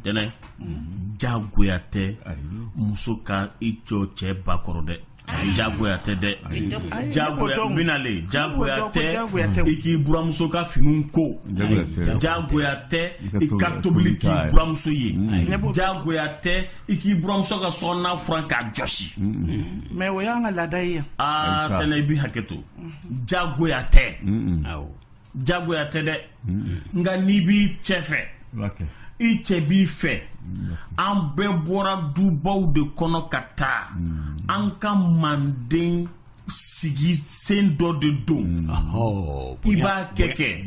tɛnɛn jagoya tɛ muso ka i jɔ cɛ ba kɔrɔ dɛ jagoya tɛ dɛ jagoya binale jagoya tɛ i k'i buramuso ka finiw ko jagoya tɛ i ka tobili k'i buramuso ye jagoya tɛ i k'i buramuso ka so kɔnɔna furan k'a jɔsi mais o y'an ka laada ye yan aa tɛnɛ i b'i hakɛ to jagoya tɛ jagoya tɛ dɛ nka n'i b'i cɛ fɛ i cɛ b'i fɛ an bɛɛ bɔra dubaw de kɔnɔ ka taa an ka manden sigi sen dɔ de don i b'a kɛ kɛ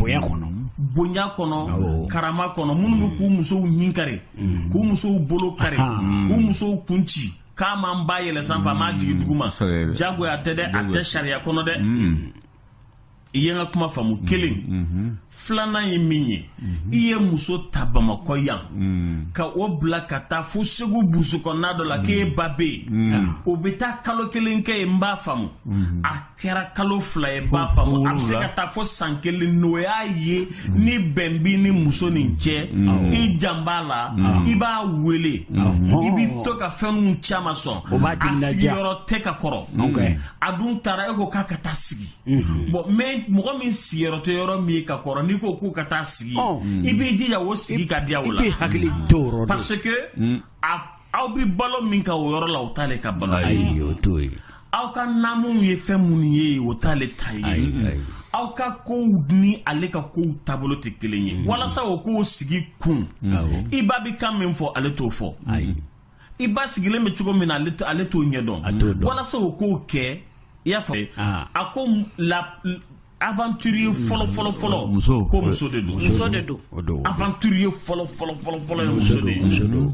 bonya kɔnɔ karama kɔnɔ minnu bɛ k'u musow ɲin kari k'u musow bolo kari k'u musow kun ci k'a ma n ba yɛlɛ sanfɛ a m'a jigi duguma mm, jagoya tɛ dɛ a tɛ sariya kɔnɔ dɛ mm. i ye n ka kuma faamu mm, kelen mm-hmm. filanan ye min ye mm-hmm. i ye muso ta bamakɔ yan mm. ka o bila ka taa fo segu burusu kɔnɔna dɔ la k'e ba bɛ yen o bɛ taa kalo kelen kɛ yen n b'a faamu mm-hmm. kɛra kalo fila ye n b'a faamu a bɛ se ka taa fo san kelen n'o y'a ye ni bɛn b'i ni muso nin cɛ i jan b'a la i b'a wele i b'i to ka fɛnw caman sɔn a sigiyɔrɔ tɛ ka kɔrɔ a dun taara e ko k'a ka taa sigi bon mais mɔgɔ min sigiyɔrɔ tɛ yɔrɔ min ye ka kɔrɔ n'i ko k'o ka taa sigi i b'i jija o sigi ka diya o la parce que a aw bɛ balo min ka o yɔrɔ la o t'ale ka balo ye aw ka naamuw ye fɛn minnu ye o t'ale ta ye aw ka kow ni ale ka kow taabolo tɛ kelen ye walasa o k'o sigi kun i ba bɛ kan min fɔ ale t'o fɔ i ba sigilen bɛ cogo min na ale t'o ɲɛdɔn walasa o k'o kɛ i y'a fɔ a ko la aventurier mm. fɔlɔ fɔlɔ fɔlɔ mm. ko muso de don muso de don aventurier fɔlɔ fɔlɔ fɔlɔ fɔlɔ ye muso de ye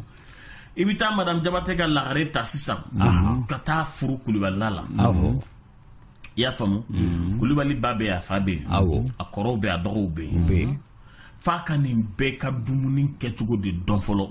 i bɛ taa madame jabate ka lagare ta sisan mm-hmm. ka taa furu kulubalila la mm-hmm. i y'a faamu mm-hmm. kulubali ba bɛ yen a fa bɛ yen a kɔrɔw bɛ yen a dɔgɔw bɛ yen f'a ka nin bɛɛ ka dumuni kɛcogo de dɔn fɔlɔ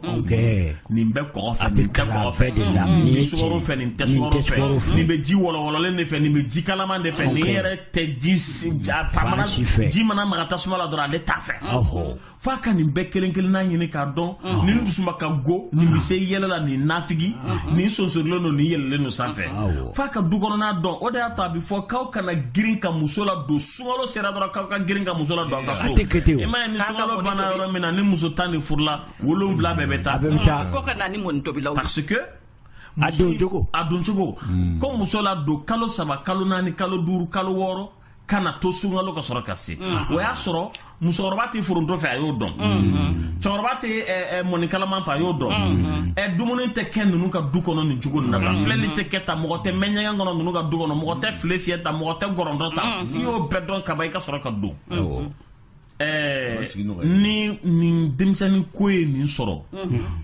nin bɛ kɔgɔ fɛ nin tɛ kɔgɔ fɛ nin bɛ sukaro fɛ nin tɛ sukaro fɛ nin bɛ ji wɔlɔwɔlɔlen de fɛ nin bɛ ji kalaman de fɛ nin yɛrɛ tɛ ji ji mana maga tasuma la dɔrɔn ale t'a fɛ f'a ka nin bɛɛ kelen kelenna ɲini k'a dɔn nin dusuma ka go nin bɛ se yɛlɛ la nin nafigi nin sonsorilen don nin yɛlɛlen don sanfɛ f'a ka du kɔnɔna dɔn o de y'a to a bɛ fɔ k'aw kana girin ka muso ladon sunkalo sera dɔrɔn k'aw ka girin ka muso ladon aw ka so i m'a ye ni sunkalo banna yɔrɔ min na ni muso tan de furula wolonwula bɛɛ bɛ taa ko ka na ni mɔni tobilaw parce que a doncogo ko muso ladon kalo saba kalo naani kalo duuru kalo wɔɔrɔ kana to sunkalo ka sɔrɔ ka se o y'a sɔrɔ musokɔrɔba tɛ foronto fɛ a y'o dɔn cɛkɔrɔba tɛ mɔni kalaman fɛ a y'o dɔn dumuni tɛ kɛ ninnu ka du kɔnɔ nin cogo nin na filɛli tɛ kɛ tan mɔgɔ tɛ mɛn ɲɛgɛn kɔnɔ ninnu ka du kɔnɔ mɔgɔ tɛ file fiyɛ tan mɔgɔ tɛ gɔrɔntɔ tan i y'o bɛɛ dɔn kaban i ka sɔrɔ ka don ni nin denmisɛnnin ko ye nin sɔrɔ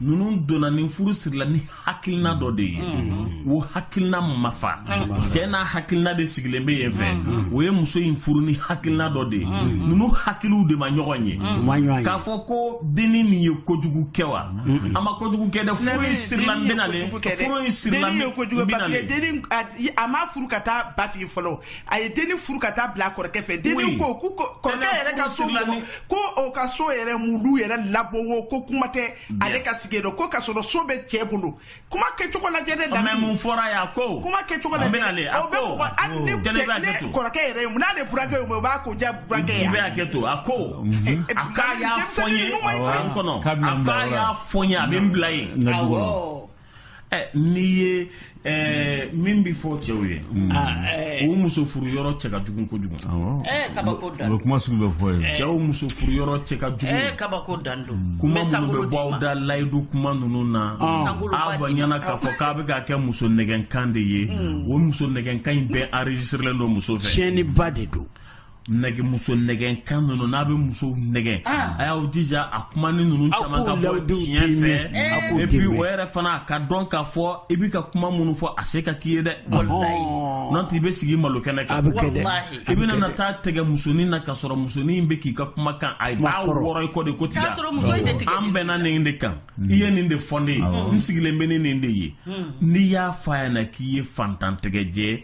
ninnu donna nin furu sirila ni hakilina dɔ de ye o hakilina ma fa cɛ n'a hakilina de sigilen bɛ yen fɛ o ye muso in furu ni hakilina dɔ de ye ninnu hakiliw de ma ɲɔgɔn ye k'a fɔ ko dennin nin ye kojugu kɛ wa a ma kojugu kɛ dɛ furu in sirila n bɛna furu in sirila n bɛna a ma furu ka taa ba fɛ fɔlɔ a ye dennin furu ka taa bila a kɔrɔkɛ fɛ dennin ko ko kɔrɔkɛ yɛrɛ ka so mɔgɔ ko o ka so yɛrɛ mulu yɛrɛ labowo ko kuma tɛ ale ka sigi dɔ ko ka sɔrɔ so bɛ cɛ bolo kuma kɛcogo lajɛ ne da mun fɔra yan ko kuma kɛcogo lajɛ o bɛ mɔgɔ hali ne cɛ ne kɔrɔkɛ yɛrɛ ye mun n'ale burankɛ ye o b'a ko diya burankɛ ye a bɛ hakɛ to a ko a k'a y'a fɔ n ye a k'a y'a fɔ n ye a bɛ n bila yen awɔ. n'i ye min bɛ fɔ cɛw ye o muso furu yɔrɔ cɛ ka jugu kojugu kuma sugu bɛ fɔ ye cɛw muso furu yɔrɔ cɛ ka jugu kabako dan kuma minnu bɛ bɔ aw da layidu kuma ninnu na a b'a ɲɛna k'a fɔ k'a bɛ ka kɛ muso nɛgɛnkan de ye o muso nɛgɛnkan in bɛɛ enregistrelen don muso fɛ tiɲɛniba de don nɛgɛ muso nɛgɛnkan ninnu n'a bɛ musow nɛgɛn ah. a y'aw jija a kuma ni ninnu caman ka bɔ tiɲɛ fɛ et puis o yɛrɛ fana a ka dɔn k'a fɔ i bɛ ka kuma minnu fɔ a se ka k'i ye dɛ n'o tɛ i bɛ sigi malo kɛnɛ kan i bɛna nata tigɛ musonin na ka sɔrɔ musonin in bɛ k'i ka kumakan a b'a wɔrɔ i kɔ de ko tiga an bɛnna nin de kan hmm. i ye nin de fɔ ne ye n sigilen bɛ ni nin de ye hmm. n'i y'a fɔ a ɲɛna k'i ye faantan tɛgɛjɛ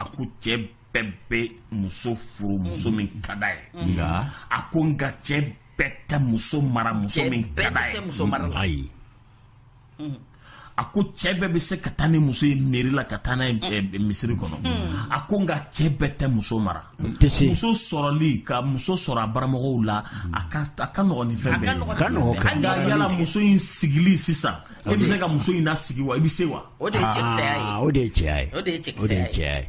a ko cɛ bɛɛ bɛ muso furu muso min ka d'a ye mm-hmm. nka a ko nka cɛ bɛɛ tɛ muso mara muso min ka d'a ye mm-hmm. a ko cɛ bɛɛ bɛ se ka taa ni muso ye mairie la ka taa n'a ye mm. eh, eh, misiri kɔnɔ mm. a ko nka cɛ bɛɛ tɛ muso mara muso sɔrɔli ka muso sɔrɔ a baramɔgɔw la a ka nɔgɔn ni fɛn bɛɛ ye nka yala muso in sigili sisan e bɛ se ka muso in nasigi wa i bɛ se wa o de ye cɛkisɛya ye Aa, o de ye cɛya ye o de ye cɛkisɛya o de ye ye. cɛya ye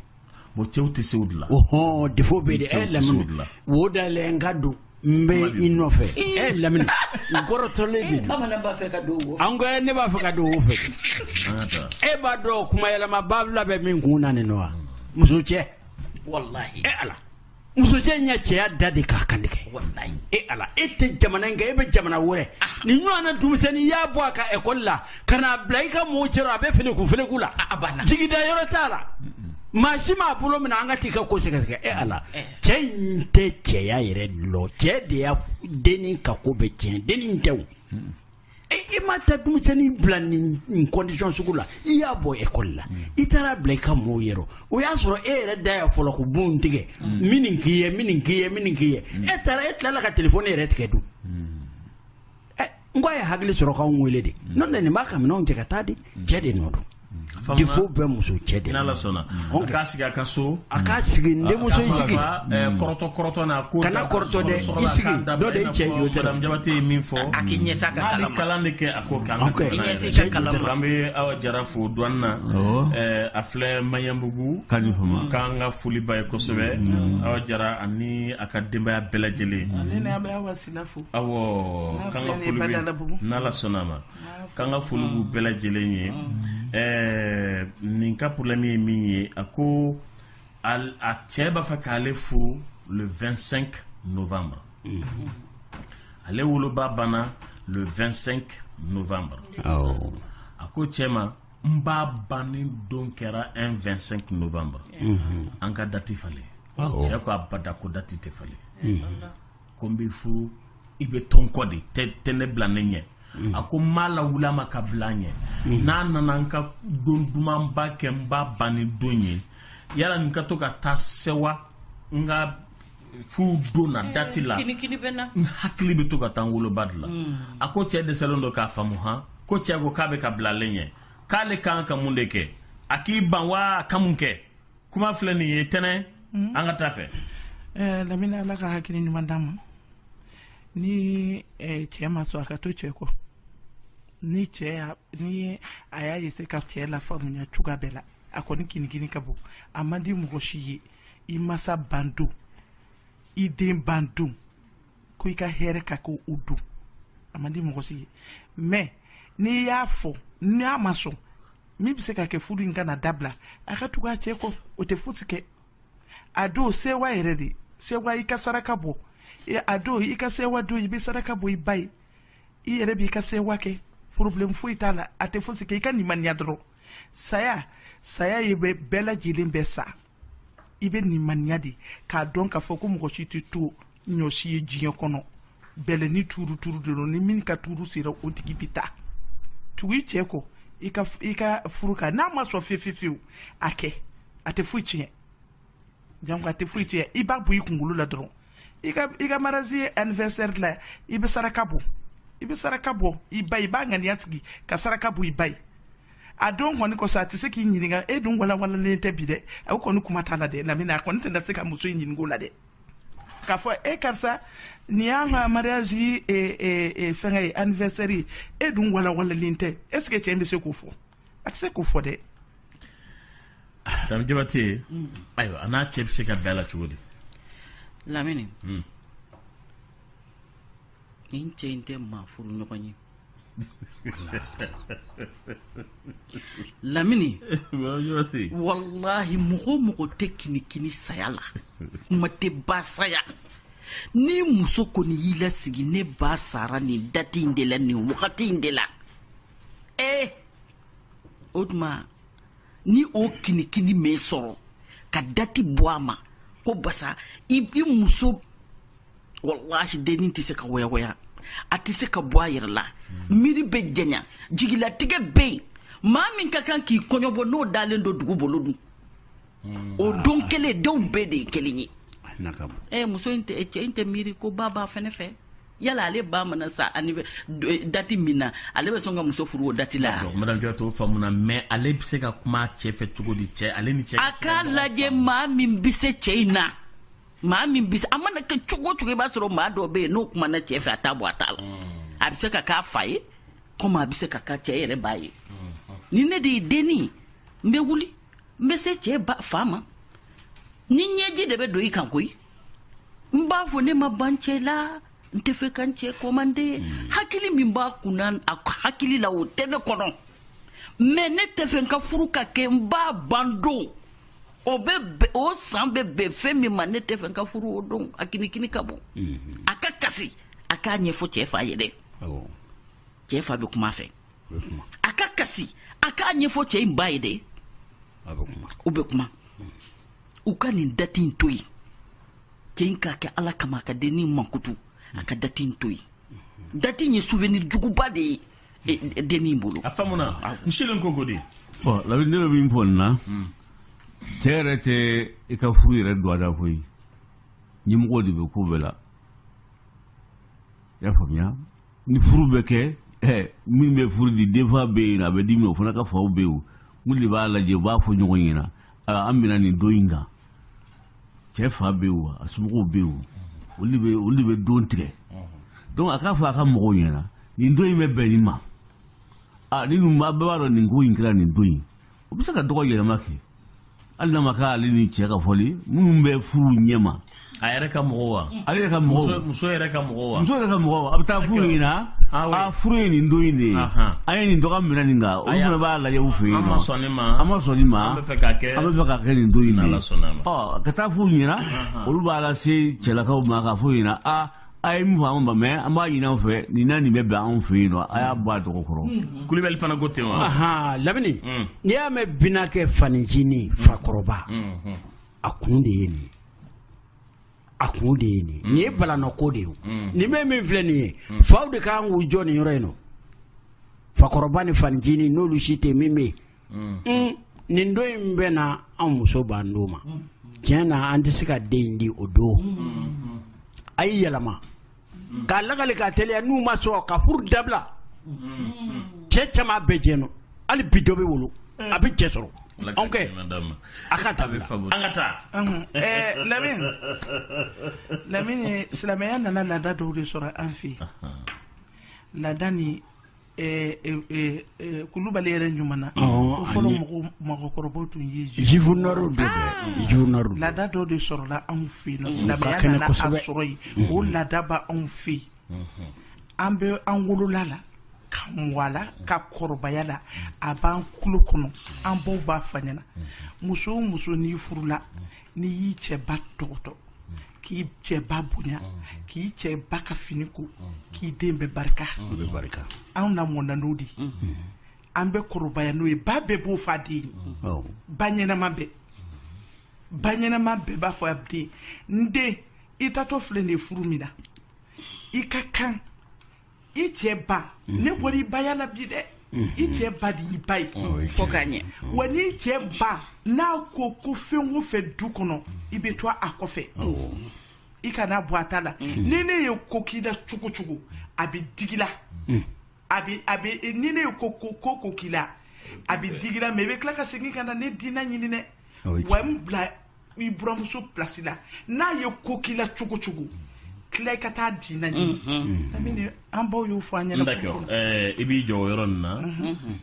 bon cɛw tɛ se o de la ohɔn defo bɛ de Cɛw ɛ tɛ se o de la. lamini wo da yɛlɛ n ka don n bɛ i nɔfɛ ɛ lamini n kɔrɔtɔlen de don bamanan b'a fɛ ka don wo an ko ɛ, ne b'a fɛ ka don o fɛ an ka taa e b'a dɔn kuma yɛlɛma babila bɛ min kun na nin nɔ wa muso cɛ walahi ɛ ala muso cɛ in y'a cɛya da de k'a kan tigɛ e ala e tɛ jamana in kan e bɛ jamana wɛrɛ ah. ni ɲɔgɔn na denmisɛnnin i y'a bɔ a ka ekɔli la ka n'a bila i ka mɔgɔw cɛra a bɛ feleku feleku la ah, ah, jigida yɔrɔ t'a la maa si m'a bolo minɛ an ka t'i ka ko sɛgɛsɛgɛ e ala eh. cɛ in tɛ cɛya yɛrɛ lɔn cɛ de y'a denni ka ko bɛɛ tiɲɛ denni tɛ o i ma taa denmisɛnnin bila nin condition sugu la i y'a bɔ ekɔli la i taar'a bila i ka mɔgɔw yɔrɔ o y'a sɔrɔ e yɛrɛ de y'a fɔlɔ ko bon tigɛ min k'i ye min k'i ye min k'i ye e taara e tilala ka téléphone yɛrɛ tigɛ dun n ko a ye hakili sɔrɔ ka n wele de n ne b'a ka minɛn cɛ ka t'a di cɛ de nɔ don Denfaw bɛ muso cɛ de n'ala sɔnna k'a sigi a ka so a k'a sigi denmuso sigi kɔrɔtɔ kɔrɔtɔ na ko kana kɔrɔtɔ dɛ i sigi dɔ de cɛ jabate ye min fɔ a k'i ɲɛsin a ka kalan kalan de kɛ a ko k'an k'an bɛ awa jara fo dɔn na a filɛ maɲanbugu k'an ka foli b'a ye kosɛbɛ awa jara ani a ka denbaya bɛɛ lajɛlen a bɛ awa sila fo awɔ k'an ka foli n'ala sɔnna a ma k'an ka foli b'u bɛɛ lajɛlen ye ɛɛ nin ka problème ye min ye a ko a cɛ b'a fɛ k'ale furu le 25 novembre ale woloba banna le 25 novembre a ko cɛ ma n ba banni don kɛra un 25 novembre an ka dati falen cɛ ko abada ko dati tɛ falen ko n bɛ furu i bɛ to n kɔ de i tɛ ne bila ne ɲɛ a ko n m'a lawuli a ma ka bila ɲɛ n'a nana n ka don dumanba kɛ n ba banni don ye yala n ka to ka taa sewa n ka furu don na eh, dati la n hakili bɛ to ka taa n woloba de la hmm. a ko cɛ dɛsɛlen don k'a faamu han ko cɛ ko k'a bɛ ka bila ale ɲɛ k'ale ka kan ka mun de kɛ a k'i ban wa a ka mun kɛ kuma filɛ nin ye tɛnɛ hmm? an ka taa fɛ eh, lamini ala ka hakili ɲuman d'a ma ni eh, cɛ ma sɔn a ka to cɛ kɔ ni cɛ ni a y'a ye se ka cɛ lafaamuya cogoya bɛɛ la a kɔni kinikini ka bon a man di mɔgɔ si ye i masa ban don i den ban don ko i ka hɛrɛ ka kɛ o don a man di mɔgɔ si ye mais n'i y'a fɔ n'a ma sɔn min bɛ se ka kɛ furu in kana dabila a ka tugu a cɛ kɔ o tɛ fosi kɛ a don sewa yɛrɛ de sewa i ka saraka bɔ a don i ka sewa don i bɛ saraka bɔ i ba ye i yɛrɛ b'i ka sewa kɛ problème foyi t'a la a tɛ fosi kɛ i ka nimaniya dɔrɔn saya saya ye bɛɛ lajɛlen bɛ sa i bɛ limaniya de k'a dɔn k'a fɔ ko mɔgɔ si tɛ to ɲɔsi ye diɲɛ kɔnɔ bɛlɛn nin tuuru tuuru de don ni min ka tuuru sera o tigi bɛ taa tugu i cɛ kɔ i ka i ka furu kan n'a ma sɔn fefefewu a kɛ a tɛ foyi tiɲɛ janko a tɛ foyi tiɲɛ i b'a bɔ i kunkolo la dɔrɔn i ka i ka mariage anniversaire la i bɛ saraka bɔ i bɛ saraka bɔ i ba i b'a ŋaniya sigi ka saraka bɔ i ba ye a don kɔni kɔsɔn a tɛ se k'i ɲininka e dun walawalalen tɛ bi dɛ o kɔni kuma t'a la dɛ Lamini a kɔni tɛna se ka muso in ɲinink'o la dɛ k'a fɔ e karisa nin y'an ka mariage e, e, e, fɛngɛ ye anniversaire ye e dun walawalalen tɛ est ce que cɛ in bɛ se k'o fɔ a tɛ se k'o fɔ dɛ Dame Diabate ayiwa a n'a cɛ bɛ se ka bɛn a la cogo di Lamini nin cɛ in tɛ maa furu ɲɔgɔn ye Lamini walahi mɔgɔ o mɔgɔ tɛ kinikini saya la kuma tɛ ba saya ni muso kɔni y'i lasigi ne ba sara nin date in de la nin wagati in de la ee o tuma ni o kinikini m'i sɔrɔ ka dati bɔ a ma ko basa i muso walahi dennin tɛ se ka wayawaya a tɛ se ka bɔ a yɛrɛ la miiri bɛ janya jigilatigɛ bɛ yen maa min ka kan k'i kɔɲɔbɔ n'o dalen don dugu bolo dun hmm. o don kelen denw bɛɛ de ye kelen ye eh, muso in tɛ cɛ in tɛ miiri ko ba b'a fɛnɛ fɛ yala ale ba mana sa ani dati min na ale bɛ sɔn ka muso furu o dati la madame Jawara t'o faamu na mais ale bɛ se ka kuma cɛ fɛ cogo di cɛ ale ni cɛ a k'a lajɛ maa min bɛ se cɛ in na maa min bɛ se a mana kɛ cogo o cogo i b'a sɔrɔ maa dɔ bɛ yen n'o kumana cɛ fɛ a t'a bɔ a ta la a bɛ se ka k'a fa ye komi a bɛ se ka k'a cɛ yɛrɛ ba ye ni ne de ye denni n bɛ wuli n bɛ se cɛ fa ma ni ɲɛji de bɛ don i kan koyi n b'a fɔ ne ma ban cɛ la n tɛ fɛ ka n cɛ kɔmande hmm. hakili min b'a kunna a hakili la o tɛ ne kɔnɔ mais ne tɛ fɛ n ka furu ka kɛ n ba ban don o bɛ o san bɛ bɛn fɛn min ma ne tɛ fɛ n ka furu o don a kinikini ka bon hmm. a ka kasi a k'a ɲɛfɔ cɛ fa ye dɛ cɛ fa bɛ kuma fɛ a ka kasi a k'a ɲɛfɔ cɛ in ba ye dɛ u bɛ kuma u ka nin dati in to yen cɛ in k'a kɛ ala kama a ka denni mankutu a ka dati in to yen dati in ye souvenir juguba de ye e, e, denni in bolo a faamuna ah. n silen ko ko de bon labi ne bɛ min fɔ nin na hmm. cɛ yɛrɛ tɛ i ka furu yɛrɛ dɔgɔda koyi ɲɛmɔgɔ de bɛ ko bɛɛ la i y'a faamuya ni furu bɛ kɛ ɛ min bɛ furu di denfa bɛ yen a bɛ di min o fana ka faw bɛ yen o mun de b'a lajɛ u b'a fɔ ɲɔgɔn ɲɛna an minɛ nin don in kan cɛ fa bɛ yen wa a somɔgɔw bɛ yen olu bɛ olu bɛ don tigɛ donc a k'a fɔ a ka mɔgɔw ɲɛna nin don in bɛ bɛn nin ma ani ninnu bɛɛ b'a dɔn nin ko in kɛra nin don in o bɛ se ka dɔgɔ yɛlɛma kɛ hali n'a ma k'ale ni cɛ ka fɔli minnu bɛ furu ɲɛma a yɛrɛ ka mɔgɔ wa ale yɛrɛ ka mɔgɔ muso yɛrɛ ka mɔgɔ wa muso yɛrɛ ka mɔgɔ a bɛ taa a fɔ u ɲɛna ah, a ah, furu ye nin don in de ye an ye nin dɔgɔ minɛ nin kan olu fana b'a lajɛ u fɛ yen an ma sɔn nin ma an ma sɔn nin ma an b'a fɛ k'a kɛ an b'a fɛ k'a kɛ nin don in de ye ɔ ka taa a fɔ u ɲɛna olu b'a lase cɛlakaw ma k'a fɔ u ɲɛna a a ye min fɔ an ma mɛ an b'a ɲini aw fɛ nin na nin bɛ bɛn anw fɛ yen nɔ a y'a bɔ a dɔgɔ kɔrɔ mm-hmm. kulubali fana ko ten wa lamini mm. n'i y'a mɛn binaakɛ fanicinin fakɔrɔba mm-hmm. a kun de ye nin ye a kun de ye nin nin ye balanɔko de ye nin bɛ min filɛ nin ye faw de ka kan k'u jɔ nin yɔrɔ in nɔ fakɔrɔba ni fanicinin n'olu si tɛ min bɛ yen nin don in bɛ na an muso b'an don ma tiɲɛ na an tɛ se ka den in di o don a y'a yɛlɛma k'a lagali k'a teliya n'u ma sɔn ka furu dabila cɛ caman bɛ jɛn nɔ hali bi dɔ bɛ wolo a bɛ cɛ sɔrɔ anw kɛ a ka taa an ka taa ɛɛ lamini lamini silamɛya nana laada dɔw de sɔrɔ an fɛ yen laada ni Kulubali yɛrɛ ɲuman na fɔlɔ mɔgɔkɔrɔbaw tun ye laada dɔ de sɔrɔla anw fɛ yen silamɛya nana a sɔrɔ yen o laada b'anw fɛ yen an bɛ an wolola a la ka mɔ a la ka kɔrɔbaya a la a b'an kulo kɔnɔ an baw b'a fɔ an ɲɛna muso o muso n'i furula n'i y'i cɛ ba tɔgɔtɔ k'i cɛ ba bonya k'i cɛ ba ka fini ko k'i den bɛ barika anw namɔna n'o de an bɛ kɔrɔbaya n'o ye ba bɛɛ b'o fɔ a den ye ba ɲɛnama bɛɛ ba ɲɛnama bɛɛ b'a fɔ a den n den i taatɔ filɛ nin ye furu min na i ka kan i cɛ ba ne bɔra i baya la bi dɛ i cɛ ba de y'i ba ye fo k'a ɲɛ wa n'i cɛ ba n'a ko fɛn o fɛn du kɔnɔ i bɛ to a kɔfɛ i kana bɔ a ta la ni ne ye ko k'i la cogo o cogo a bɛ digi i la a bɛ a bɛ ni ne ye ko ko ko ko k'i la a bɛ digi i la mais i bɛ tila ka segin ka na ne dina ɲini dɛ wa n bila i buramuso plasi la n'a ye ko k'i la cogo o cogo tila i ka taa a dina ɲini lamini an baw y'o fɔ an ɲɛna D'accord. Eh, i b'i jɔ o yɔrɔ nin na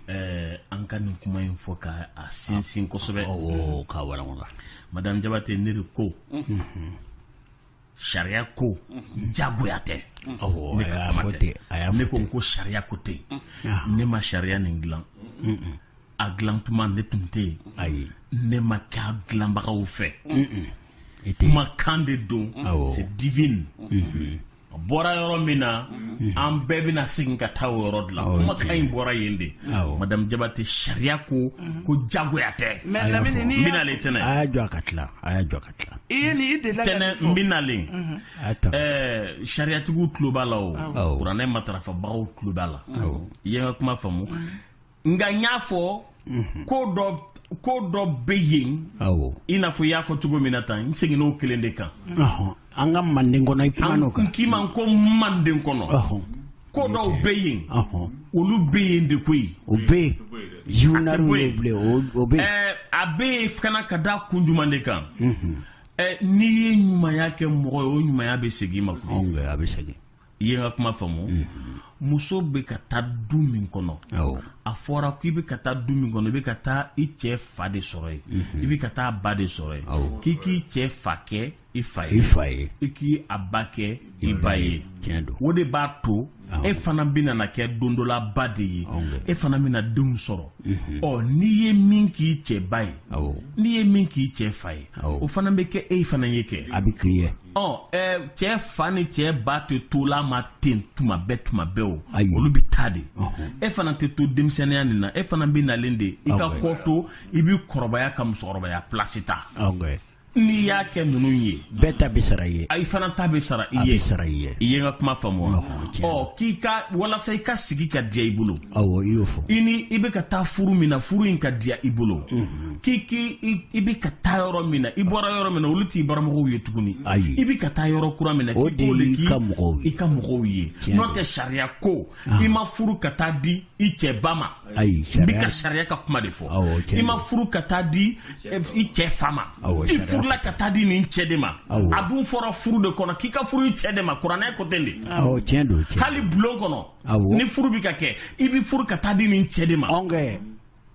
eh, an ka nin kuma in fɔ ka a sinsin kosɛbɛ Awɔ, k'a walawala. madame jabate ne de ko sariya ko jagoya tɛ ne ko n ko sariya ko tɛ ne ma sariya nin dilan a dilan tuma ne tun tɛ yen ayi ne ma kɛ a dilanbagaw fɛ kumakan de don c'est divine a bɔra yɔrɔ min na an bɛɛ bɛna segin ka taa o yɔrɔ de la kumakan in bɔra yen de madame Jabatɛ sariya ko ko jagoya tɛ bɛna ale tɛna a y'a jɔ a ka tila a y'a jɔ bɛnalen sariyatigiw tulo b'a la o kuranɛ matarafabagaw tulo b'a la i ye n ka kuma faamu nka n y'a fɔ ko dɔ ko dɔ bɛ yen i n'a fɔ i y'a fɔ cogo min na tan n seginna o kelen de kan an ka manden kɔnɔ n k'i ma ko manden kɔnɔ ko dɔw bɛ yen olu bɛ yen de koyi o bɛ yen journal bɛ yen o bɛ yen a bɛ yen fana ka da kun jumɛn de kan n'i ye ɲumanya kɛ mɔgɔ ye o ɲumanya bɛ segin i ma a bɛ segin i ye n ka kuma faamu muso bɛ ka taa du min kɔnɔ a fɔra k'i bɛ ka taa du min kɔnɔ i bɛ ka taa i cɛ fa de sɔrɔ yen i bɛ ka taa ba de sɔrɔ yen k'i k'i cɛ fa kɛ i fa ye i fa ye i k'a ba kɛ i ba ye tiɲɛ don o de b'a to e fana bɛna na kɛ don dɔ la ba de ye e fana bɛna denw sɔrɔ mhm. ɔ n'i ye min k'i cɛ ba ye n'i ye min k'i cɛ fa ye o fana bɛ kɛ e fana ye kɛ a bɛ k'i ye ɔ cɛ fa ni cɛ ba tɛ to la ma ten tuma bɛɛ tuma bɛɛ o olu bɛ taa de e fana tɛ to denmisɛnninya nin na e fana bɛ nalen de i ka kɔ to i bɛ kɔrɔbaya ka musokɔrɔbaya pilasi ta n'i y'a kɛ ninnu ye bɛɛ ta bɛ sara i ye i fana ta bɛ sara i ye sara i ye i ye n ka kuma faamu wa ɔ k'i ka walasa i ka sigi ka diya i bolo awɔ i y'o fɔ i ni i bɛ ka taa furu min na furu in ka diya i bolo k'i k'i i bɛ ka taa yɔrɔ min na i bɔra yɔrɔ min na olu t'i baramɔgɔw ye tuguni ayi i bɛ ka taa yɔrɔ kura min na k'i b'o de k'i ka mɔgɔw ye i ka mɔgɔw ye n'o tɛ sariya ko Ah. i ma furu ka taa di i cɛ ba ma n bɛ ka sariya ka kuma de fɔ i ma furu ka taa di eh, i cɛ fa ma i furula ka taa di nin cɛ de ma a dun fɔra furu de kɔnɔ k'i ka furu i cɛ de ma kuranɛ ko ten de hali bulon kɔnɔ ni furu bɛ ka kɛ i bɛ furu ka taa di nin cɛ de ma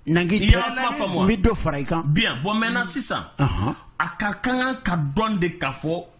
nangi i ye n ka kuma faamu n bɛ dɔ fara i kan bien bon maintenant sisan a ka kan k'a dɔn de k'a fɔ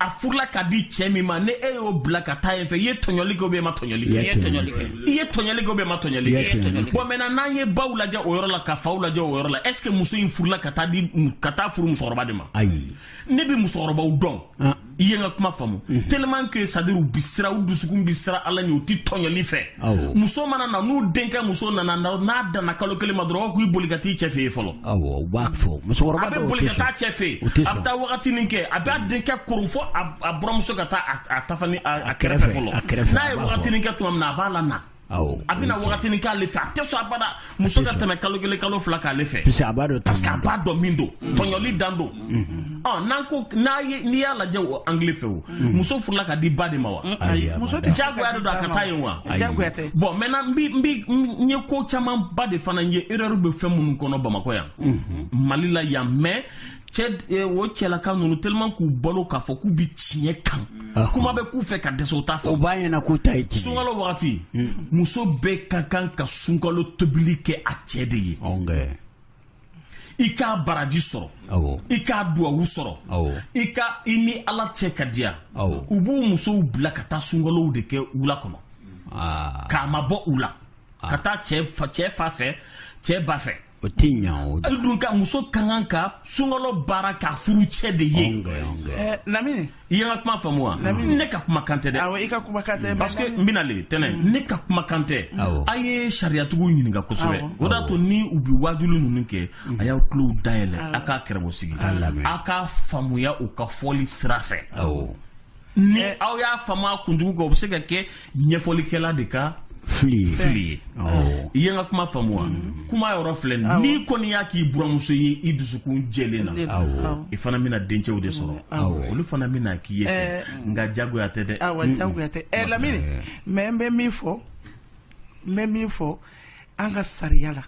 a furula ka di cɛ min ma ni e y'o bila ka taa yen fɛ i ye tɔɲɔli kɛ ou bien i ma tɔɲɔli kɛ i ye tɔɲɔli kɛ i ye tɔɲɔli kɛ ou bien i ma tɔɲɔli kɛ bon maintenant n'an ye baw lajɛ o yɔrɔ la ka faw lajɛ o yɔrɔ la est ce que muso in furula ka taa di ka taa furu musokɔrɔba de ma ayi ne bɛ musokɔrɔbaw dɔn ah. i ye n ka kuma faamu mm-hmm. tellement que c'est à dire u bi siran u dusukun bi siran ala ɲɛ u ti tɔɲɔli fɛ muso mana na n'u denkɛ muso nana n'a danna kalo kelen ma dɔrɔn k'i boli ka t'i cɛ fɛ yen fɔlɔ a bɛ boli ka taa cɛ fɛ yen a bɛ taa wagatinin kɛ a b'a denkɛ koron fo a buramuso ka taa a tafa ni a kɛrɛfɛ fɔlɔ n'a ye wagatinin kɛ tuma min na a b'a la na a bɛna wagatinin k'ale fɛ a tɛ sɔn abada muso ka tɛmɛ kalo kelen kalo fila k'ale fɛ parce que a b'a dɔn parce que a b'a dɔn min don mm. tɔɲɔli dan don mm-hmm. ɔ n'an ko n'a ye n'i y'a lajɛ o angle fɛ o mm. muso furula ka di ba de ma wa mm, ayi muso tɛ jagoya de don a ka taa yen wa jagoya tɛ bon maintenant n bi n bi n ye ko camanba de fana ye erreur bɛ fɛn minnu kɔnɔ bamakɔ yan mm-hmm. mali la yan mais cɛ eh, o cɛlaka ninnu tellement k'u balo k'a fɔ k'u bi tiɲɛ kan ah. kuma bɛ k'u fɛ ka dɛsɛ u t'a fɛ o b'a ɲɛna k'u ta ye tiɲɛ sunkalo wagati hmm. muso bɛɛ ka kan ka sunkalo tobili kɛ a cɛ de ye i k'a baraji sɔrɔ i k'a duwawu sɔrɔ i ka i ni ala cɛ ka diya u b'u musow bila ka taa sunkalow de kɛ wula kɔnɔ ah. k'a mabɔ u la ah. ka taa cɛ fa fɛ cɛ ba fɛ o tɛ ɲa o hali donc muso ka kan ka sunkalo baara k'a furucɛ de ye eh, lamini i ye n ka kuma faamu wa ne ka kumakan tɛ dɛ awɔ i ka kumakan tɛ parce que n bɛna le tɛnɛ mm. ne ka kumakan tɛ a ye sariyatigiw ɲininka kosɛbɛ o de y'a to ni u bɛ waajuli ninnu kɛ mm. a y'aw tulow dayɛlɛ a k'a kɛrɛbɔ sigi a k'a faamuya u ka fɔli sira fɛ ni aw y'a faamuya kunjugu kan o bɛ se ka kɛ ɲɛfɔlikɛla de ka fili fili ye i ye n ka kuma faamu wa mm. kuma yɔrɔ filɛ n'i kɔni y'a k'i buramuso ye i dusukun jɛlen na i fana bɛna dencɛw de sɔrɔ olu fana bɛna k'i ye eh. nka jagoya tɛ dɛ jagoya tɛ eh, lamini eh. mais n bɛ min fɔ n bɛ min fɔ an ka sariya la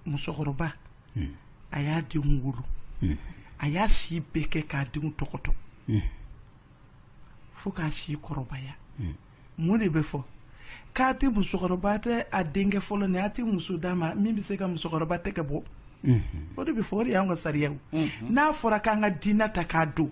musokɔrɔba hmm. a y'a denw wolo hmm. a y'a si bɛɛ kɛ k'a denw tɔgɔtɔ hmm. fo k'a si kɔrɔbaya mun de bɛ fɔ k'a tɛ musokɔrɔba tɛ a denkɛ fɔlɔ ni a tɛ muso d'a ma min bɛ se ka musokɔrɔba tɛgɛ bɔ o de bɛ fɔ o de y'an ka sariyaw n'a fɔra k'an ka diinɛ ta k'a don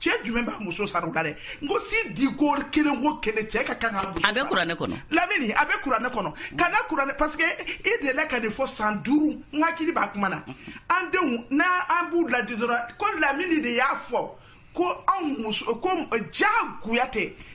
cɛ jumɛn b'a muso sara o la dɛ n ko sidi ko kelen ko kelen cɛ ka kan ka muso a bɛ kuranɛ kɔnɔ lamini a bɛ kuranɛ kɔnɔ kana kuranɛ parce que i delila ka nin fɔ san duuru n hakili b'a kuma na an denw n'a an b'u laadi dɔrɔn ko lamini de y'a fɔ ko anw muso ko jagoya tɛ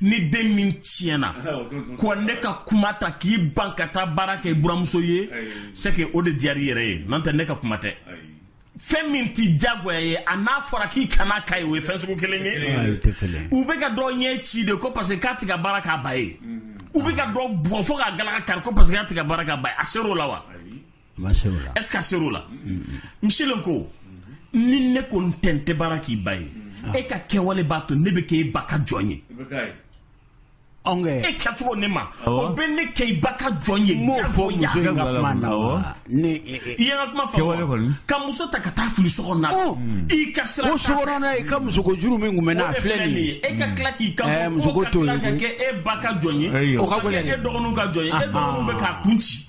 ni den min tiɲɛna ko ne ka kuma ta k'i ban ka taa baara kɛ i buramuso ye c'est que o de diyara i yɛrɛ ye n'o tɛ ne ka kuma tɛ fɛn min tɛ jagoya ye a n'a fɔra k'i kana k'a ye o ye fɛn sugu kelen ye u bɛ ka dɔ ɲɛ ci de ko parce que k'a tɛ ka baara k'a ba ye u bɛ ka dɔ bugɔ fo k'a galaka kari ko parce que k'a tɛ ka baara k'a ba ye a ser'o la wa est-ce que a ser'o la misilen ko ni ne ko n tɛ n tɛ baara k'i ba ye e ka kɛwale b'a to ne bɛ kɛ e ba ka jɔn ye e kɛcogo ne ma o bɛ ne kɛ i ba ka jɔn ye m'o fɔ muso in ka kuma na ne i ye n ka kuma faamu ka muso ta ka taa fili so kɔnɔ na i ka sira o sokɔnɔ na i ka musoko juru min tun bɛ n na filɛ nin ye e ka tila k'i ka musoko to yen ka kɛ e ba ka jɔn ye o ka gɛlɛn dɛ e dɔgɔninw ka jɔn ye e dɔgɔninw bɛ k'a kun ci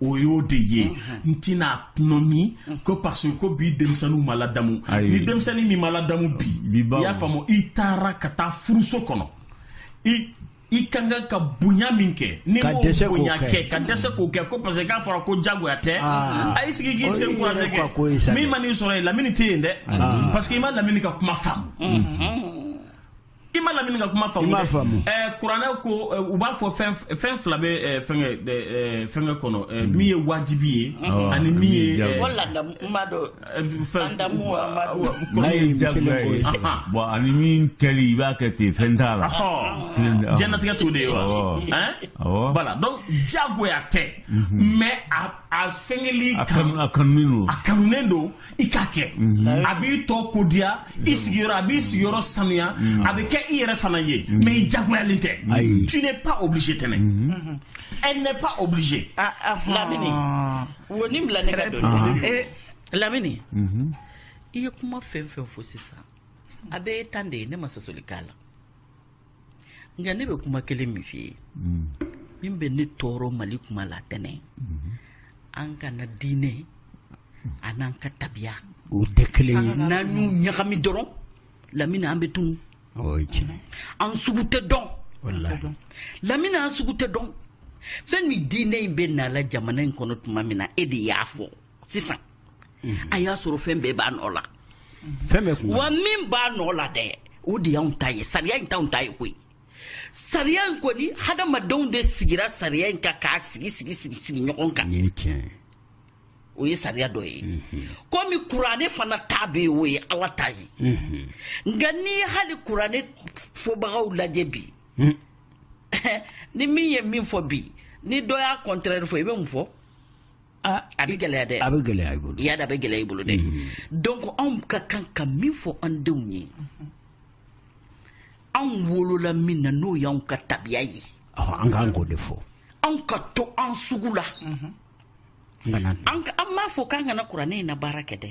o y'o de ye n tɛna nɔ min ko parce que ko bi denmisɛnninw ma ladamu ni denmisɛnnin min ma ladamu bi i y'a faamu i taara ka taa furuso kɔnɔ i i ka kan ka bonya min kɛ n'i m'o bonya kɛ ka dɛsɛ k'o kɛ ko parce que k'a fɔra ko jagoya tɛ ah. a y'i sigi k'i sen kurase kɛ min man'i sɔrɔ yen lamini tɛ yen dɛ ah. parce que i ma lamini ka kuma faamu mm-hmm. i ma lamini ka kuma faamu i m'a faamu ɛɛ kuranɛ ko u b'a fɔ fɛn fɛn fila bɛ ɛɛ fɛnkɛ ɛɛ fɛnkɛ kɔnɔ ɛɛ hmm. min ye wajibi ye hmm. ani min ye ɛɛ ko ladamu ma do ladamu ma do n'a ye jagoya ye bon ani min kɛli i b'a kɛ ten fɛn t'a la diɲɛnatigɛ t'o de ye wa ɛn voilà donc jagoya tɛ mais a a fɛnkɛli kan a kanunen don a kanunen don i k'a kɛ mhm. a b'i tɔgɔ diya i mhm. sigiyɔrɔ a b'i sigiyɔrɔ sanuya mhm. a bɛ kɛ i yɛrɛ fana ye mais i jagoyalen tɛ tu n'es pas obligé tɛnɛ elle n'est pas obligée ah, ah, ah. lamini wo n bila ne ka don eh, lamini i ye kuma fɛn fɛn fɔ sisan a bɛɛ tan de ye ne ma sɔsɔli k'a la nka ne bɛ kuma kelen min f'i ye mm. min bɛ ne tɔɔrɔ mali kuma la tɛnɛ mm-hmm. an kana diinɛ a n'an ka tabiya o tɛ kelen ye n'an y'u ɲagami dɔrɔn lamini an bɛ tunu an sugu tɛ dɔn lamini an sugu tɛ dɔn fɛn min diinɛ in bɛ na la jamana in kɔnɔ tuma min na e de y'a fɔ sisan a y'a sɔrɔ fɛn bɛɛ b'a nɔ la wa min b'a nɔ la dɛ o de y'anw ta ye sariya in t'anw ta ye koyi sariya in kɔni hadamadenw de sigira sariya in kan k'a sigi sigi sigi sigi ɲɔgɔn kan o ye sariya dɔ ye mhm. komi kuranɛ fana ta bɛ yen o ye ala ta ye mhm. nka n'i ye hali kuranɛ fɔbagaw lajɛ bi mhm. ni min ye min fɔ bi ni dɔ y'a contraire fɔ i bɛ mun fɔ Ah, a bɛ gɛlɛya dɛ a bɛ gɛlɛya i bolo y'a da a bɛ gɛlɛya i bolo dɛ mm-hmm. donc anw ka kan ka min fɔ an denw ye mm-hmm. anw wolola min na n'o y'anw ka tabiya ye an kan k'o de fɔ anw ka to an sugu la mm-hmm. an m'a fɔ k'an kana kuranɛ in na baara kɛ dɛ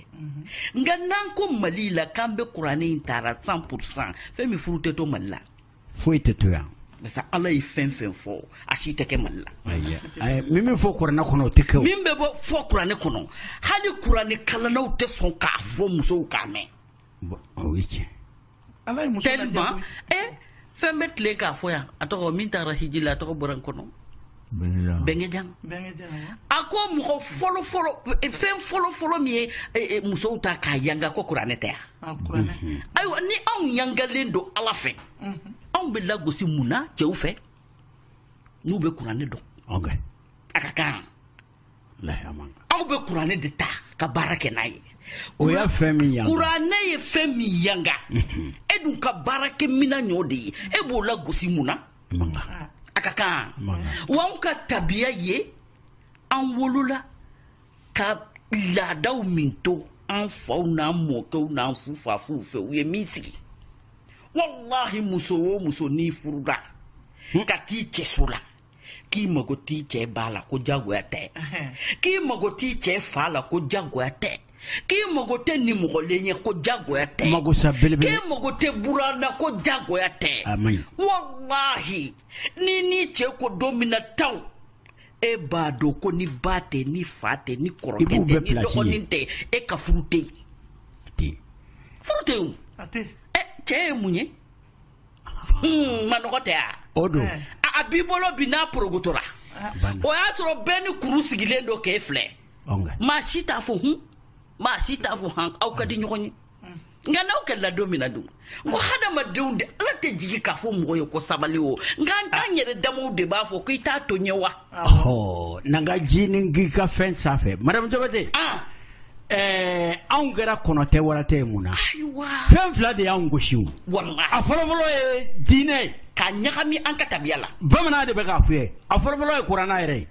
nka n'an ko mali la k'an bɛ kuranɛ in taara 100 pourcent fɛn min furu tɛ to mali la foyi tɛ to yan parce que ala ye fɛn fɛn fɔ a si tɛ kɛ mali la min bɛ fɔ kuranɛ kɔnɔ o tɛ kɛ min bɛ bɔ fɔ kuranɛ kɔnɔ hali kuranɛ kalannaw tɛ sɔn k'a fɔ musow k'a mɛn o ye tiɲɛ ala ye muso tellement eh fɛn bɛ tilen k'a fɔ yan a tɔgɔ min taara hiji la a tɔgɔ bɔra n kɔnɔ bɛnkɛjan a ko mɔgɔ fɔlɔfɔlɔ e, fɛn fɔlɔfɔlɔ min ye e, e, musow ta k'a yanga ko kuranɛ tɛ yan mhm. ayiwa ni anw yangalen don ala fɛ mhm. anw bɛ lagosi mun na cɛw fɛ n'u bɛ kuranɛ dɔn a ka kan aw bɛ kuranɛ de ta ka baara kɛ n'a ye o y'a fɛn min yanga kuranɛ ye fɛn min yanga mhm. e dun ka baarakɛ minan ɲɔ de ye e b'o lagosi mun na a ka kan wa anw ka tabiya ye an wolola ka laadaw min to an faw n'an mɔkɛw n'an fufafuw fɛ u ye min sigi walahi muso o muso n'i furula hmm? ka t'i cɛso la k'i mago t'i cɛ ba la ko jagoya tɛ k'i mago t'i cɛ fa la ko jagoya tɛ k'i mago tɛ nimɔgɔlen ye ko jagoya tɛ magosa belebele k'i mago tɛ buran na ko jagoya tɛ walahi n'i n'i cɛ ko don min na taw e b'a dɔn ko ni ba tɛ ni fa tɛ ni kɔrɔkɛ tɛ ni dɔgɔnin tɛ e ka furu tɛ yen furu tɛ yen o cɛ ye mun ye hmm, manɔgɔ tɛ wa o don a b'i bolo bi n'a porogotora o y'a sɔrɔ bɛɛ ni kuru sigilen don k'e filɛ maa si t'a fɔ hun maa si t'a fɔ han aw ka di ɲɔgɔn ye nka n'aw kɛlɛla don min na dun n ko hadamadenw de ala tɛ jigi k'a fɔ mɔgɔ ye ko sabali o nka an t'an yɛrɛ damaw de b'a fɔ ko i t'a to ɲɛ wa n'an ka ji ni k'i ka fɛn sanfɛ madame jabate anw kɛra kɔnɔ tɛ wara tɛ ye mun na fɛn fila de y'an gosi o a fɔlɔfɔlɔ ye diinɛ ye ka ɲagami an ka tabiya la bamanan de bɛ k'a fɔ ye a fɔlɔfɔlɔ ye kuranɛ yɛrɛ ye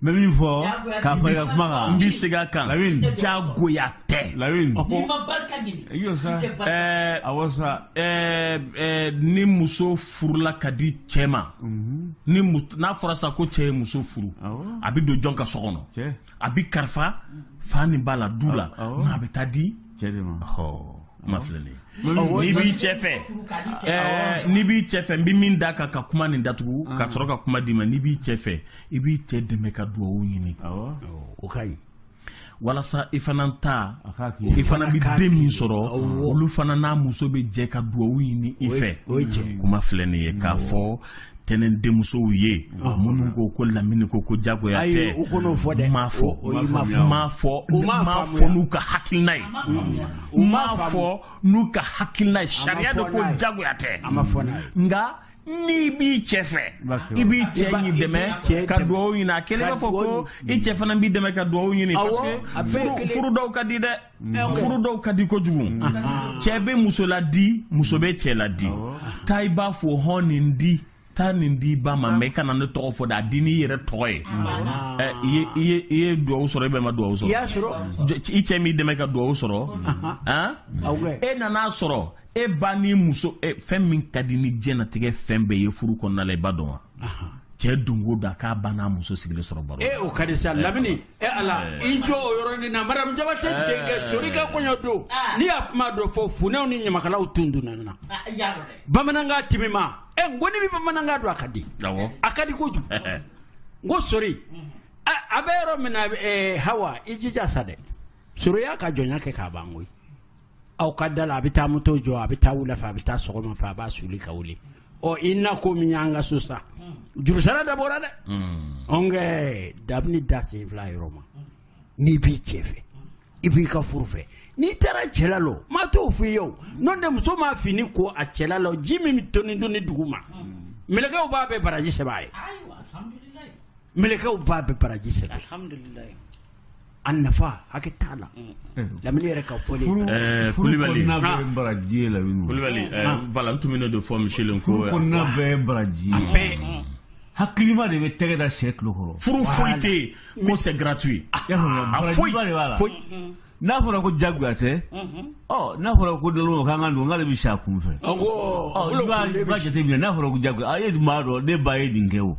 n bɛ min fɔ ka fara i ka kuma kan n bɛ segin a kan jagoya tɛ awɔ sa ni muso furula ka di cɛ ma mhm. ni n'a fɔra sa ko cɛ ye muso furu a bɛ don jɔn ka so kɔnɔ a bɛ kalifa fa ni ba la du la nka a bɛ taa di kuma filɛ nin n'i b'i cɛ fɛ n'i b'i cɛ fɛ n bɛ min da kan ka kuma nin datugu ka sɔrɔ ka kuma d'i ma n'i b'i cɛ fɛ i b'i cɛ dɛmɛ ka dugawu ɲini o ka ɲi walasa i fana ta i fana bɛ den min sɔrɔ olu fana n'a muso bɛ jɛ ka dugawu ɲini i fɛ kuma filɛ nin ye k'a fɔ tɛnɛn denmusow ye ah. minnu ko ko lamini ko ko jagoya tɛ m'a fɔ m'a fɔ m'a fɔ n'u ka hakilina ye m'a fɔ n'u ka hakilina ye sariya de ko jagoya tɛ nka n'i b'i cɛ fɛ i b'i cɛ in dɛmɛ ka dugawu ɲini a kelen b'a fɔ ko i cɛ fana b'i dɛmɛ ka dugawu ɲini parce que furu dɔw ka di dɛ furu dɔw ka di kojugu cɛ bɛ muso laadi muso bɛ cɛ laadi taa i b'a fɔ hɔn nin di taa nin di ba ma mais i kana ne tɔgɔ fɔ dɛ a di n'i yɛrɛ tɔgɔ ye i ye duwawu sɔrɔ i bɛɛ ma duwawu sɔrɔ i cɛ m'i dɛmɛ ka duwawu sɔrɔ e nan'a sɔrɔ e ba ni muso fɛn min ka di ni diɲɛnatigɛ fɛn bɛɛ ye furu kɔnɔna la i b'a dɔn wa cɛ dungo don a k'a ba n'a muso sigilen sɔrɔ baro e o ka di sa lamini e ala eh. i jɔ o yɔrɔnin na madamu jabate eh. denkɛ sori ka kɔɲɔ don ah. n'i y'a kuma dɔ fɔ funɛw ni ɲamakalaw tun donna na ah, bamanankan timima ɛ eh, n ko n'i bɛ bamanankan dɔn a ka di a ka di kojugu n ko sori a bɛ yɔrɔ min na hawa i jija sa dɛ sori y'a ka jɔnya kɛ k'a ban koyi aw ka da la a bɛ taa moto jɔ a bɛ taa wula fɛ a bɛ taa sɔgɔma fɛ a b'a soli ka wuli ɔ i na ko min y'an ka so sa jurusara dabɔra dɛ ɔnkɛ dabini da sen fila yɔrɔ ma n'i b'i cɛ fɛ i b'i ka furu fɛ n'i taara cɛla la o maa t'o f'i ye o n'o tɛ muso m'a fini ko a cɛla la o ji min bɛ toni toni dugu ma mɛlɛkɛw b'a bɛɛ baraji sɛbɛn a ye mɛlɛkɛw b'a bɛɛ baraji sɛbɛn a ye a nafa hakɛ t'a la lamini yɛrɛ ka fɔ kulubali baraji ye lamini kulubali voilà tun bɛ ne de fɔ michel ko kɔnɔna bɛɛ baraji hakilima de bɛ tɛgɛ da cɛ tulo kɔrɔ furu foyi tɛ yen ko c'est gratuit foyi de b'a la n'a fɔra ko jagoya tɛ n'a fɔra ko dɔn k'an ka don k'ale bɛ sa kun fɛ i b'a jateminɛ n'a fɔra ko jagoya a ye maa dɔn ne ba ye nin kɛ o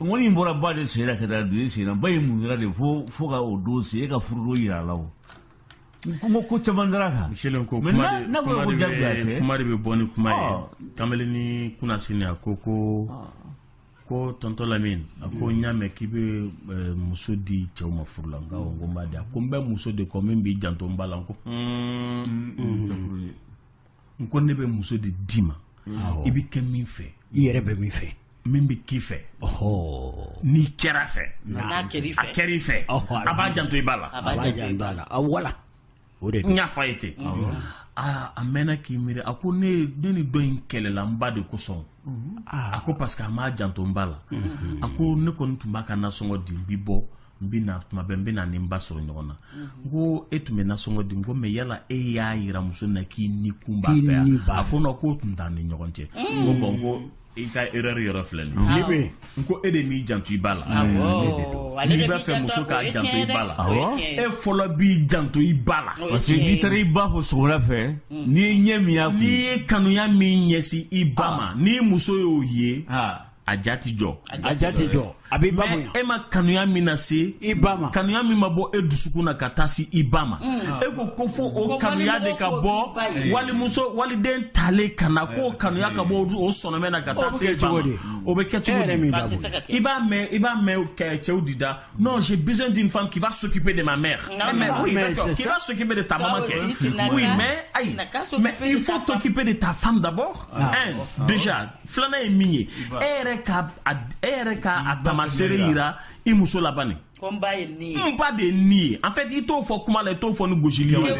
ŋɔni in bɔra ba de sen na ka taa don e sen na ba ye mun kɛra de fo fo ka o don se e ka furudon yira a la o n ko ko caman dar'a kan michel ko kuma de bɛ bɔ ni kuma ye kamalennin kunasini a ko ko ko tonton lamin a ko n y'a mɛn k'i bɛ muso di cɛw ma furu la n ko n b'a di a ko n bɛ muso de kɔ min b'i janto n ba la n ko n ko ne bɛ muso de d'i ma i bɛ kɛ min fɛ i yɛrɛ bɛ min fɛ min bɛ k'i fɛ n'i kɛr'a fɛ a kɛra i fɛ a b'a janto i ba la a voilà o de n y'a fɔ a ye ten aa a mɛnna k'i miiri a ko ne ne ni dɔ in kɛlɛla n ba de kosɔn a ko parce que a m'a janto n ba la a ko ne kɔni tun b'a ka nasɔngɔ di n bi bɔ n bɛ na tuma bɛɛ n bɛ na ni n ba sɔrɔ ɲɔgɔn na n ko e tun bɛ nasɔngɔ di n ko mais yala e y'a yira muso na k'i ni kun b'a fɛ yan a ko non k'o tun t'an ni ɲɔgɔn cɛ n ko bon n ko i ka erreur yɔrɔ filɛ nin ye n ko e de m'i janto i ba la n'i b'a fɛ muso k'a janto i ba la e fɔlɔ b'i janto i ba la parce que n'i taara i ba fo sɔgɔmada fɛ n'i ye ɲɛ min y'a kun n'i ye kanuya min ɲɛsin i ba ma n'i muso y'o ye a ja tɛ jɔ a ja tɛ jɔ a b'i ba bonya e ma kanuya min lase i ba ma kanuya min ma bɔ e dusukun na ka taa se i ba ma mm. e ko ko fo o kanuya de ka bɔ walimuso waliden talen ka na k'o kanuya ka bɔ o sɔnɔmɛ na ka taa se i ba ma o bɛ kɛ cogo di i b'a mɛn i b'a mɛn cɛw de da non j'ai besoin d'une femme qui va s'occuper de ma mère eh, mais oui d'accord qui va s'occuper de ta maman kɛ oui mais ayi mais il faut t'occuper de ta femme d'abord ah. un déjà filanan ye min ye e yɛrɛ ka e yɛrɛ ka a tamasere yira i muso la bani n ba ye nin ye n ba de ye nin ye en fait i t'o fɔ kuma la i t'o fɔ ni gosili ye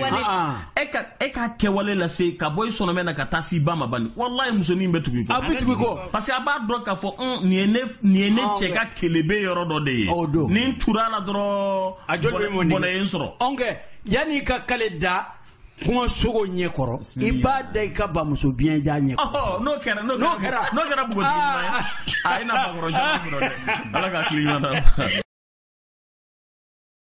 e ka e ka kɛwale lase ka bɔ i sɔnɔmɛ na ka taa s'i ba ma bani walayi musonin bɛ tugu i kɔ a bɛ tugu i kɔ parce que a b'a dɔn k'a fɔ un nin ye ne nin ye ne cɛ ka kelebe yɔrɔ dɔ de ye ni n tur'a la dɔrɔn a joli bɛ mɔni bɔnɛ ye n sɔrɔ ɔnkɛ yanni i ka kale da kungo sogo ɲɛ kɔrɔ i b'a da i ka bamuso biɲɛjan ɲɛ kɔrɔ n'o kɛra n'o kɛra n'o kɛra buguntigi ɲuman ye a i na bakɔrɔn caman sɔrɔ dɛ ala ka hakili ɲuman d'a ma